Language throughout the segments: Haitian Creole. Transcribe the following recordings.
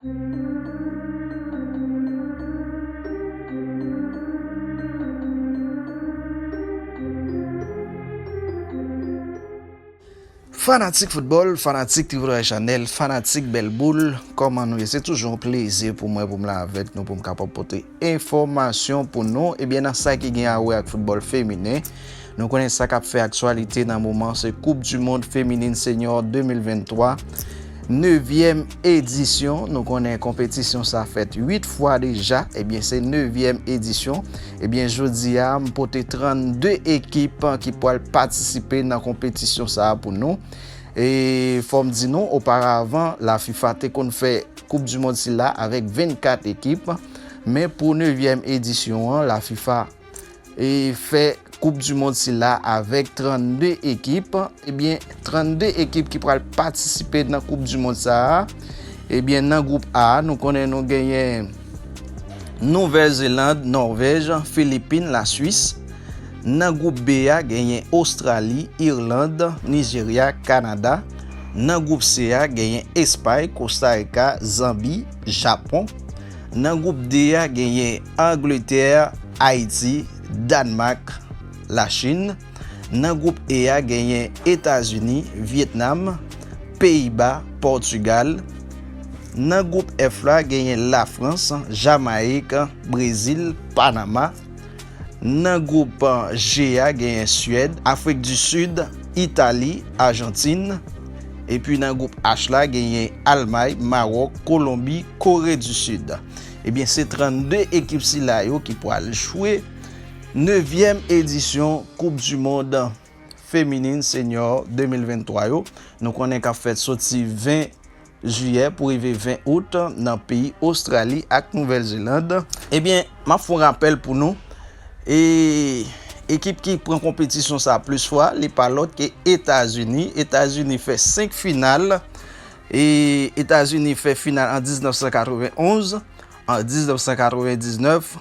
Fanatik foutbòl, fanatik Livre Channel, fanatik bèl boul, kòman nou ye? Se toujou yon plezi pou mwen pou m la avèk nou pou m kapab pote. Enfòmasyon pou nou, ebyen nan sa ki gen a wè ak foutbòl feminen, nou konnen sa k ap fè aktyalite nan moman se koup di mond feminin senyò 2023, nevyèm edisyon, nou konnen konpetisyon sa fèt 8 fwa deja, ebyen se nevyèm edisyon, ebyen jodi a m pote 32 ekip ki pwal patisipe nan konpetisyon sa pou nou, e fò m di nou oparavan la fifa te konn fè. Koup du mond sila avèk 24 ekip, men pou nevyèm edisyon an la fifa e fè koup du mond sila avèk 32 ekip, ebyen 32 ekip ki pral patisipe nan koup du mond sa a, ebyen nan group A nou konnen nou genyen Nouvèl Zeland, Nòvèj, Filipin, la Swis, nan group B a genyen Ostrali, Irland, Nijerya, Kanada, Nan gwoup C a genyen Espay, Kostarika, Zanbi, Japon. Nan gwoup D a genyen Angletè, Ayiti, Dànmak, Lachin. Nan gwoup E a genyen Etazini, Vyetnam, Peyiba, Pòtigal. Nan gwoup F la genyen Lafrans, Jamayik, Brezil, Panama. Nan gwoup G a genyen Suèd, Afrik di Sid, Itali, Ajantin. Epi nan gwoup H la genyen Almay, Mawòk, Kolonbi, Kore di Sid. Ebyen se 32 ekip sila yo ki pwal jwe nevyèm edisyon koup du mond feminin senyò 2023 yo nou konnen kap fèt soti 20 Jiyè pou rive 20 Out nan peyi Ostrali ak Nouvèl Zeland. Ebyen, m ap fè yon rapèl pou nou, e ekip ki pran konpetisyon sa plis fwa, li pa lòt ke Etazini. Etazini fè 5 final. E Etazini fè final an 1991, an 1999.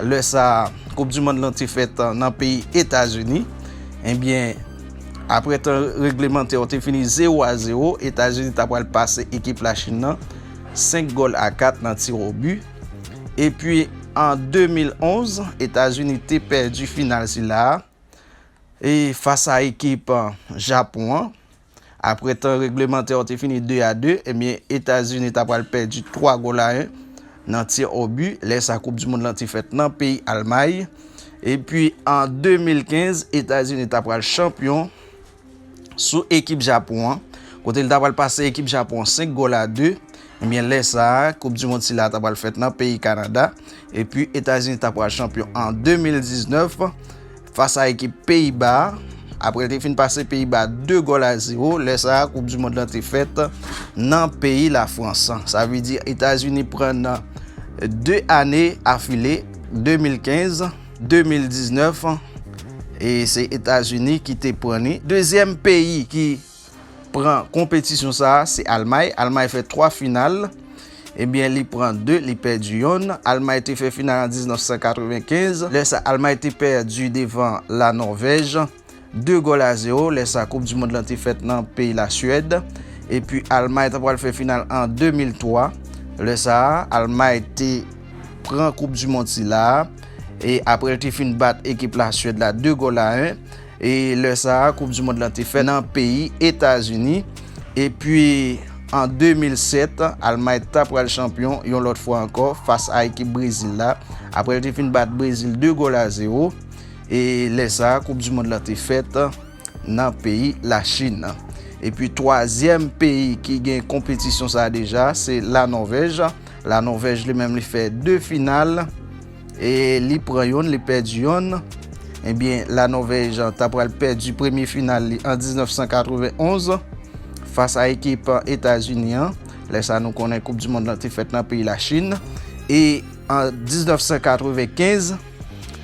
Lè sa a, koup du mond lan te fèt nan peyi Etazini. Ebyen, aprè tan reglemantè yo te fini 0 a 0, Etazini ta pral pase ekip Lachin nan 5 gòl a 4 nan tir o bi. Epi an 2011, Etazini te pèdi final sila a e fas a ekip Japon an. Apre tan reglemantè yo te fini 2 a 2, ebyen Etazini ta pral pèdi 3 gòl a 1 nan tir au but, lè sa koup du mond lan te fèt nan peyi Almay. Epi an 2015, Etazini ta pral chanpyon sou ekip Japon an, kote li ta pral pase ekip Japon an 5 gòl a 2. Ebyen lè sa, koup du mond sila ta pral fèt nan peyi Kanada, epi Etazini ta pral chanpyon an 2019 fas a ekip Peyiba, apre l te fin pase Peyiba 2 gòl a 0, lè sa koup du mond lan te fèt nan peyi Lafrans. Sa vle di Etazini pran nan 2 ane afile, 2015, 2019, e se Etazini ki te pran li. Dezyèm peyi ki pran konpetisyon sa a se Almay. Almay fè 3 final. Ebyen li pran 2, li pèdi yonn. Almay te fè final an 1995. Lè sa Almay te pèdi devan La Nòvèj 2 gòl a 0. Lè sa koup di mond lan te fèt nan peyi La Suèd. Epi Almay ta pral fè final an 2003. Lè sa Almay te pran koup di mond sila a. E aprè l te fin bat ekip La Suèd la 2 gòl a 1. E lè sa a, koup di mond lan te fèt nan peyi Etazini. Epi an 2007, Almay ta pral chanpyon yon lòt fwa ankò fas a ekip Brezil la, apre l te fin bat Brezil 2 gòl a zewo. E lè sa a, koup di mond lan te fèt nan peyi Lachin. Epi twazyèm peyi ki gen konpetisyon sa a deja, se La Nòvèj. La Nòvèj li menm li fè 2 final. E li pran yonn, li pèdi yonn. Ebyen, La Nòvèj ta pral pèdi premye final li an 1991 fas a ekip Etazini an. Lè sa nou konnen koup dimond lan te fèt nan peyi Lachin. E an 1995,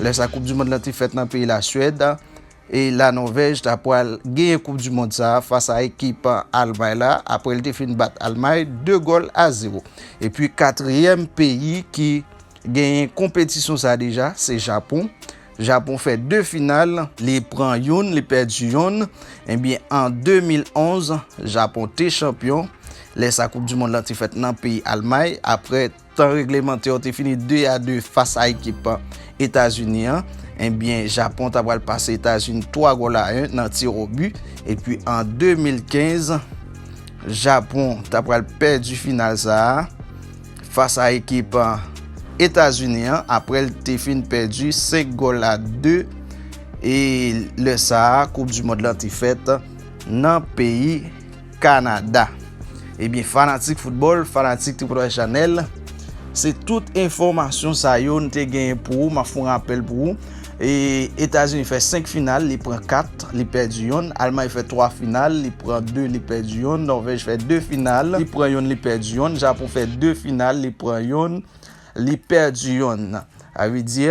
lè sa koup dimond lan te fèt nan peyi Lasuèd. E la Nòvèj ta pwal genyen koup du mond sa fas a ekip Almay la apre li te fin bat Almay 2 gòl a 0. E pi katriyèm peyi ki genyen konpetisyon sa deja se Japon. Japon fè 2 final, li pran youn li pèdi youn. Ebyen an 2011 Japon te chanpyon, lè sa koup du mond lan te fèt nan peyi Almay apre. Tan reglemante yo te fini 2 a 2 fas a ekip Etazini an, ebyen Japon ta pral pase Etazini 3 gòl a 1 nan tir o bi, epi an 2015 Japon ta pral pèdi final sa a fas a ekip Etazini an aprè l te fin pèdi 5 gòl a 2 e lè sa a koup du mond lan te fèt nan peyi Canada. Ebyen fanatik football, fanatik Tripotay Chanel, se tout enfomasyon sa yo n te genyen pou ou, ma fon rapel pou ou. E Etazini fè 5 final, li pran 4, li pèdi yon, Almay fè 3 final, li pran 2, li pèdi yon, Norvèj fè 2 final, li pran yon, li pèdi yon, Japon fè 2 final, li pran yon, li pèdi yon. Sa vle di.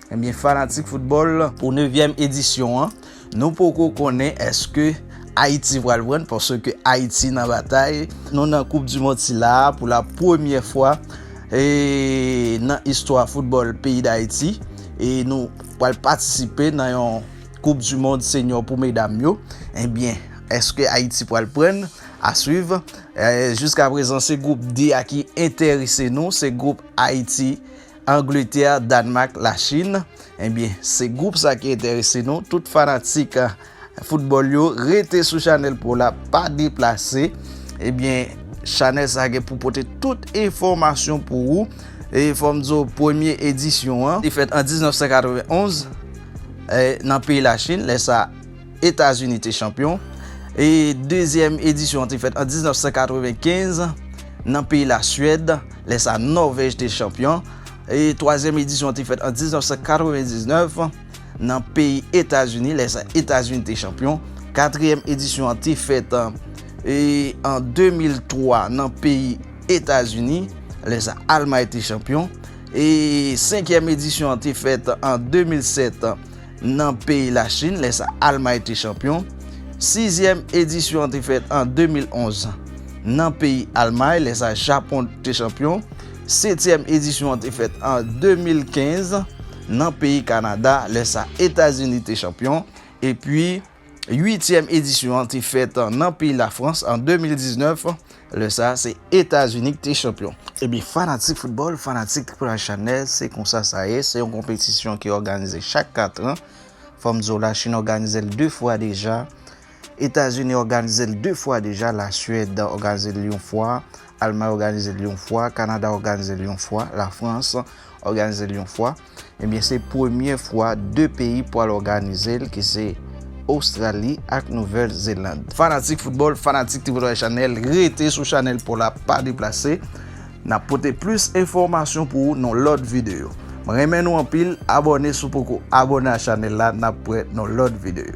Ebyen fanatik foutbòl pou nevyèm edisyon an nou poko konnen èske Ayiti pral prann paske Ayiti nan batay nou nan koup di mond sila pou la premyè fwa nan istwa foutbòl peyi Dayiti e nou pral patisipe nan yon koup di mond senyò pou medam yo ebyen èske Ayiti pral prann aswiv jiska prezan se group D a ki enterese nou se group Ayiti. Angletè, Danmak, la Chine. Ebyen se group sa ki enterese nou. Tout fanatik football yo rete sou chanèl pou la pa deplase. Ebyen chanèl sa gen pou pote tout enfomasyon pou ou. E fòm di ou premye edisyon an. Li fèt an 1991 nan peyi la Chine. Lè sa. Etazini te chanpyon e dezyèm edisyon an te fèt an 1995 nan peyi Lasuèd, lè sa Nòvèj te chanpyon e twazyèm edisyon an te fèt an 1999 nan peyi Etazini, lè sa Etazini te chanpyon, katriyèm edisyon an te fèt an 2003 nan peyi Etazini, lè sa Almay te chanpyon e senkyèm edisyon an te fèt an 2007. nan peyi Lachin, lè sa Almay te chanpyon. Sizyèm edisyon an te fèt an 2011 nan peyi Almay, lè sa Japon te chanpyon. Setyèm edisyon an te fèt an 2015 nan peyi Kanada, lè sa Etazini te chanpyon. Epi. Uityèm edisyon an te fèt nan peyi Lafrans an 2019, lè sa a se Etazini ki te chanpyon. Ebyen fanatik foutbòl, fanatik Tripotay Chanèl, se konsa sa ye, se yon konpetisyon ki òganize chak 4 an. Fò m di w Lachin òganize l 2 fwa deja, Etazini òganize l 2 fwa deja, Lasuèd òganize l yon fwa, Almay òganize l yon fwa, Kanada òganize l yon fwa, Lafrans òganize l yon fwa. Ebyen se premye fwa 2 peyi pwal òganize l ki se Ostrali ak Nouvèl Zeland. Fanatik foutbòl, fanatik Tripotwale Chanèl rete sou chanèl paw la pa deplase nap pote plis enfòmasyon pou ou nan lòt videyo. M renmen nou anpil abòne si w poko abòne a chanèl la nap prè nan lòt videyo.